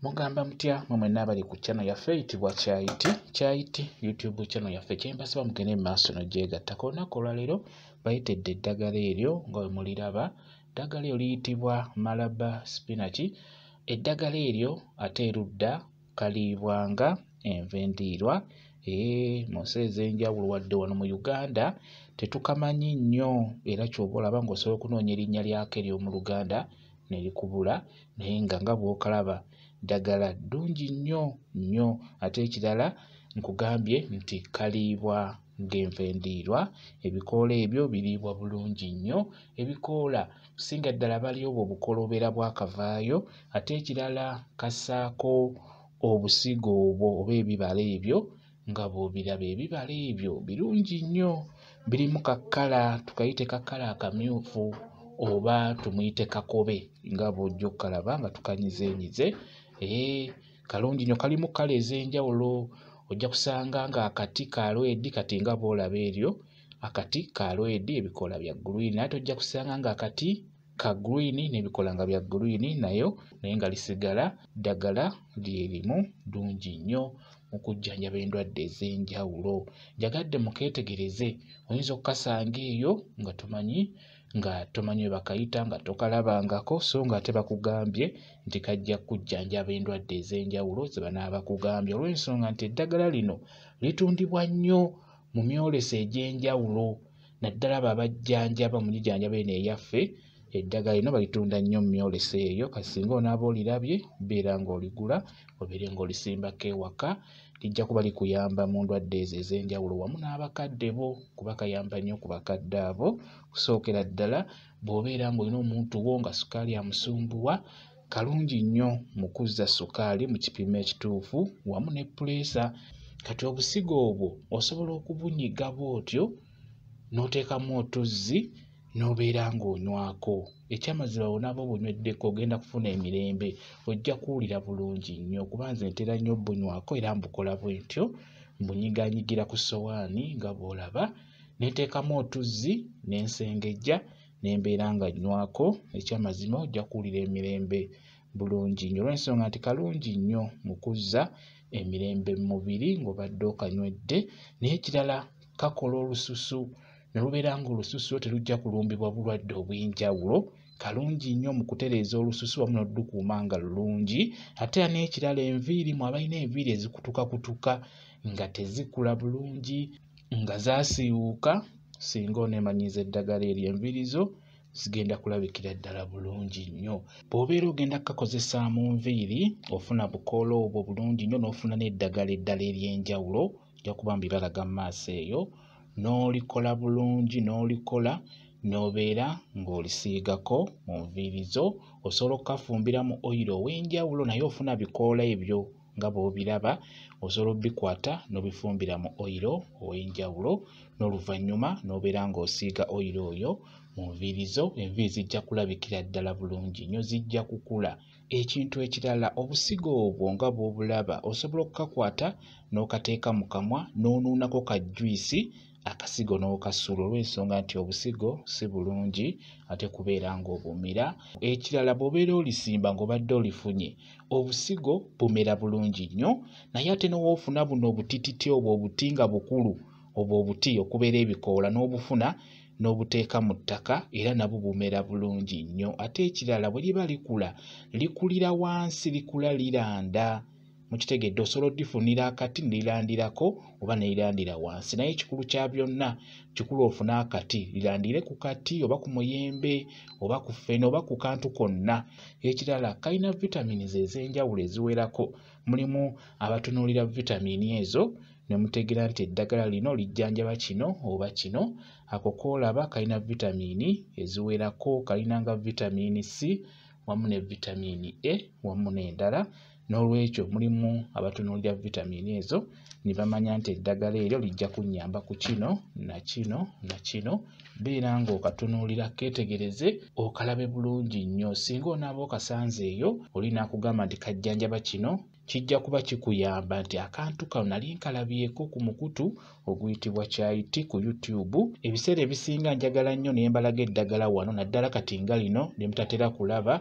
mugamba mutya mwe mwenna abali ku channel yaffe eyitibwa kyayiti kyayiti youtube channel yaffe kyembasaba mugende mu maaso nogyegattako olunaku olwaleero bayitedde eddagala eryo nga bwe muliraba eddagala eryo liyitibwa malaba spinaki eddagala eryo ate erudda kaliibwanga enva endiirwa ee mu nsi ez'enjawulo wadde wano mu uganda tetukamanyi nnyo era kyoba olaba ng'osobola okunoonya erinnya lyako ery'omu luganda ne likubula naye nga nga bw'okalaba ddagala ddungi nnyo nnyo ate ekirala nkugambye nti kaliibwa ng'enva endiirwa ebikoola ebyo biriibwa bulungi nnyo ebikoola kusinga ddala bali obwo obukoola obeera bwakavaayo ate ekirala kasaako obusigo obwo oba ebibala ebyo nga bw'obiraba ebibala ebyo birungi nnyo birimu kakkala tukayite kakkala akamyufu oba tumuyite kakobe nga bw'ojja okukalaba nga tukanyizenyize ee kalungi nnyo kalimu kkala ez'enjawulo ojja kusanga ng'akati ka lwedi kati nga bw'olaba eryo akati ka lwedi ebikoola bya gguliini ate ojja kusanga ng'akati ka green nebikola nga bya green nayo naye nga lisigala ddagala lyerimu ddungi nnyo mu kujjanjaba endwadde ez'enjawulo njagadde mukeetegereze oyinza okukasanga eyo nga tomanyi nga tomanyi we bakayita nga tokalabangako so nga ate bakugambye nti kajja kujjanjaba endwadde ez'enjawulo ze banaaba bakugambye olw'ensonga nti eddagala lino litundibwa nnyo mu myoleso egy'enjawulo naddala abo abajjanjaba mu gijanjaba eno eyaffe eddagala lino balitunda nnyo mu myolese eyo kati singa onaaba olirabye beera ng'oligula obeere ng'olisimbako ewaka lijja kuba likuyamba mu ndwadde ezo ez'enjawulo wamu n'abakadde bo kuba kayamba nnyo ku bakadde abo kusookera ddala bw'obeera ng'olina omuntu wo nga sukaali amusumbuwa kalungi nnyo mu kuzza ssukaali mu kipimo ekituufu wamu ne puleesa kati obusigo obwo osobola okubunyiga bw'otyo n'oteekamu otuzzi n'obeera ng'onywako ekyamazima bwonaaba obunyweddeko ogenda kufuna emirembe ojja kuwulira bulungi nnyo kuba nze ntera nnyo obunywako era mbukola bwentyo mbunyiganyigira ku sowaani nga bw'olaba ne nteekamu otuzzi ne nsengejja ne mbeera nga nywako ekyamazima ojja kuwulira emirembe bulungi nnyo olw'ensonga nti kalungi nnyo mu kuzza emirembe mu mubiri ng'obadde okanywedde n'ekirala kakola olususu ne lubeera ng'olususu lwo terujja kulumbibwa bulwadde obw'enjawulo kalungi nnyo mu kutereeza olususu wamu n'oludukuuma nga lulungi ate era n'ekirala enviiri mu abalina enviiri ezikutukakutuka nga tezikula bulungi nga zaasiiwuuka singa oneemanyiiza eddagala eryo enviiri zo zigenda kulabikira ddala bulungi nnyo bw'obeera ogenda kukakozesa mu nviiri ofuna bukoola obwo bulungi nnyo n'ofuna n'eddagala eddala ery'enjawulo ojja kuba mbibalaga mu maaso eyo n'olikola bulungi n'olikola n'obeera ng'olisiigako mu nviiri zo osobola okukafumbira mu oyiro ow'enjawulo naye ofuna bikoola ebyo nga bw'obiraba osobola obikwata n'obifumbira mu oyiro ow'enjawulo n'oluvannyuma n'obeera ng'osiiga oyiro oyo mu nviiri zo enviiri zijja kulabikira ddala bulungi nnyo zijja kukula ekintu ekirala obusigo obwo nga bw'obulaba osobola okukakwata n'okateeka mu kamwa n'onuunako ka juyisi akasigo n'okasuula olw'ensonga nti obusigo si bulungi ate kubeera ng'obumira ekirala bw'obeera olisimba ng'obadde olifunye obusigo bumera bulungi nnyo naye ate n'owoofuna buno obutititi obwo obuti nga bukulu obwo obuti okubeera ebikoola n'obufuna n'obuteeka mu ttaka era nabwo bumera bulungi nnyo ate ekirala bwe liba likula likulira wansi likula liranda mukitegedde osobola odifunira akati nelilandirako oba nelilandira wansi naye ekikulu kya byonna kikulu ofune akati lilandire ku kati oba ku muyembe oba ku fene oba ku kantu konna ekirala kalina vitamins ez'enjawulo eziwerako mulimu abatunuulira vitamini ezo ne mutegeera nti eddagala lino lijjanjaba kino oba kino ako koolaba kalina vitamini eziwerako kalinanga vitamini c wamu ne vitamiini A wamu n'endala n'olwekyo mulimu abatunuulira vitamiini ezo ne bamanya nti eddagala eryo lijja kunnyamba ku kino na kino na kino beera ng'okatunuulira keetegereze okalabe bulungi nnyo singa onaaba okasanze eyo olina kugamba nti kajjanjaba kino kijja kuba kikuyamba nti akantu kano nali nkalabyeko ku mukutu oguyitibwa kyayit ku youtube ebiseera ebisinga njagala nnyo nembalaga eddagala wano naddala kati nga lino lyemutatera kulaba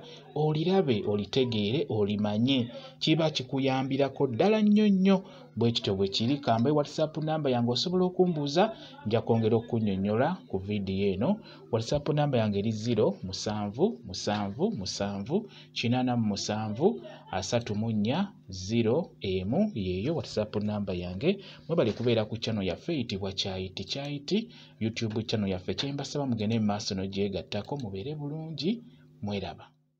olirabe olitegeere olimanye kiba kikuyambirako ddala nnyo nnyo bwe kityo bwe kiri kambaye whatsapp namba yange osobola okumbuuza nja kwongera okunyonyola ku vidiyo eno whatsapp namba yange eri 0 musanvu musanvu musanvu kinana mu musanvu asatu mu nnya ziro emu yeeyo whatsapp namba yange mwebale kubeera ku channel yaffe eyitibwa kyayiti kyayiti youtube channel yaffe kyembasaba mugende mu maaso n'ogyegattako mubeere bulungi mweraba